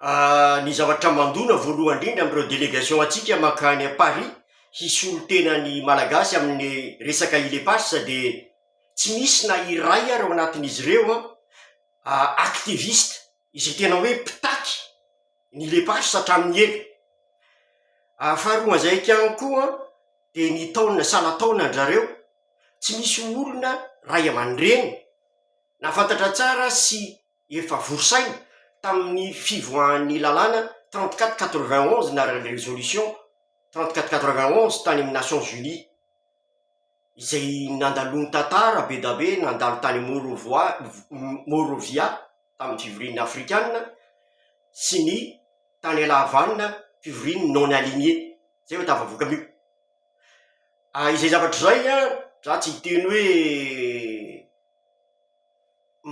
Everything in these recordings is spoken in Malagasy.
Aah, ny zavatra mandona voalohany indrindra amin'ireo delegation antsika mankany à Paris hisolo tena ny Malagasy amin'ny resaka ILEPAS dia tsy misy na iray ary ao anatin'izy ireo an ah activiste izay tena hoe mpitaky ny ILEPAS hatramin'ny ela, ary faharoa izay ihany koa an dia ny taona saha-nataonan-dry zareo tsy misy olona ray aman-dreny. Nahafantatra tsara sy efa vory saina tamin'ny fivoahan'ny lalàna trente quatre quatre vingt onze na résolution trente quatre quatre vingt onze tany amin'ny Nations Unies, izay nandaloan'ny tantara be da be nandalo tany Môrôvoa Môrôvia tamin'ny fivorian'ny Afrikana sy ny tany Ala Havana fivorian'ny non aligné izay vao tafavoaka an'io. Izay zavatra izay an, za tsy hiteny hoe.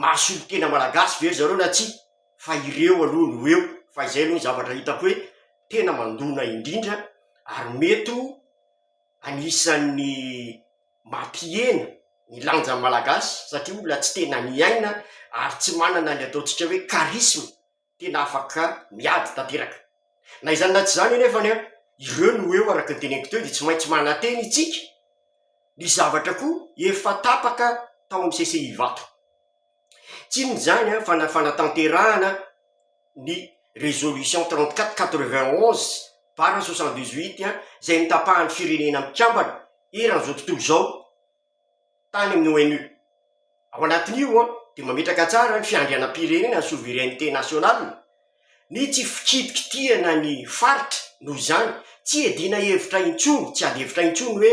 maha solontena malagasy ve ry zareo na tsia fa ireo aloha no eo fa izay aloha ny zavatra hitako hoe tena mandona indrindra ary mety ho anisan'ny mampihena ny lanjan'ny malagasy satria olona tsy tena miaina ary tsy manana ny ataontsika hoe charisme tena afaka miady tanteraka. Na izany na tsy izany anefa ny ireo no eo araka ny teneniko teo dia tsy maintsy manantena itsika ny zavatra koa efa tapaka tao amin'ny CCI Ivato. Tsy inona izany an fa na fanatanterahana ny résolution trente quatre quatre vingt onze barra soixante dix huit izay notapahan'ny firenena mikambana eran'izao tontolo izao, tany amin'ny ONU. Ao anatin'io dia mametraka tsara ny fiandrianam-pirenena, ny souveraineté nationale, ny tsy fikitikitihana ny faritra, noho izany, tsy iadiana hevitra intsony, tsy ady hevitra intsony hoe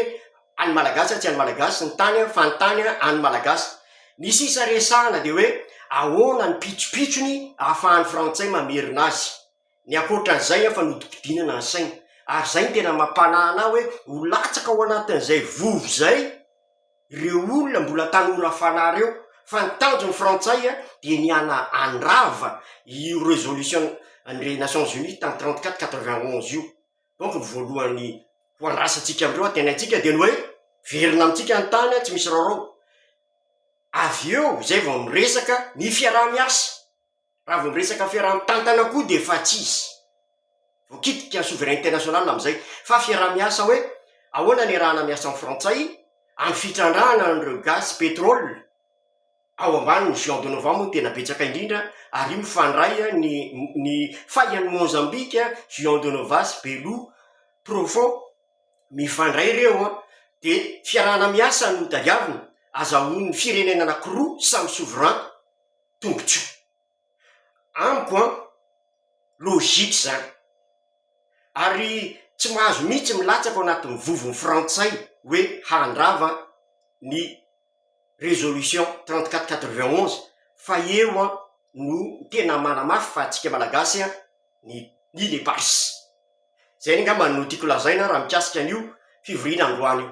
an'ny Malagasy tsy an'ny Malagasy ny tany fa ny tany an'ny Malagasy. Ny sisa resahana dia hoe ahoana ny pitsopitsony ahafahan'ny frantsay mamerina azy. ny ankoatra an'izay aho fa nodimpidianana ny saina, ary izay no tena mampanahy anah hoe ho latsaka ao anatin'izay vovo izay reo olona mbola tanora fanahy reo, fa ny tanjon'ny frantsay an dia ny hana handrava io resolution an'ireny nations unies tany trente quatre quatre vingt onze io, donc ny voalohany ho andrasantsika amindreo antenaintsika dia ny hoe verina amintsika ny tany an tsy misy raorao, avy eo izay vao miresaka ny fiaraha-miasa. Raha vao miresaka fiaraha mitantana koa dia efa tsy izy. Voakitika souveraineté nationale amin'izay. Fa fiaraha miasa hoe ahoana ny iarahana miasa amin'ny frantsay amin'ny fitrandrahana an'ireo gaz sy pétrole ao ambanin'ny Juan Donovan moa no tena betsaka indrindra ary io mifandray ny ny fahian'i Mozambique, Juan Donovan sy Belo Provo mifandray ireo an! dia fiarahana miasa no tadiavina, azahoan'ny firenena anakiroa samy souverain. tombotsoa. Amiko an, logique izany. Ary tsy mahazo mihitsy milatsaka ao anatin'ny vovon'ny frantsay hoe handrava ny résolution trente quatre quatre vingt onze fa eo an no tena manamafy fa antsika malagasy an ny ny le pars. Zay ny angamba no tiako lazaina raha mikasika an'io fivoriana androany io.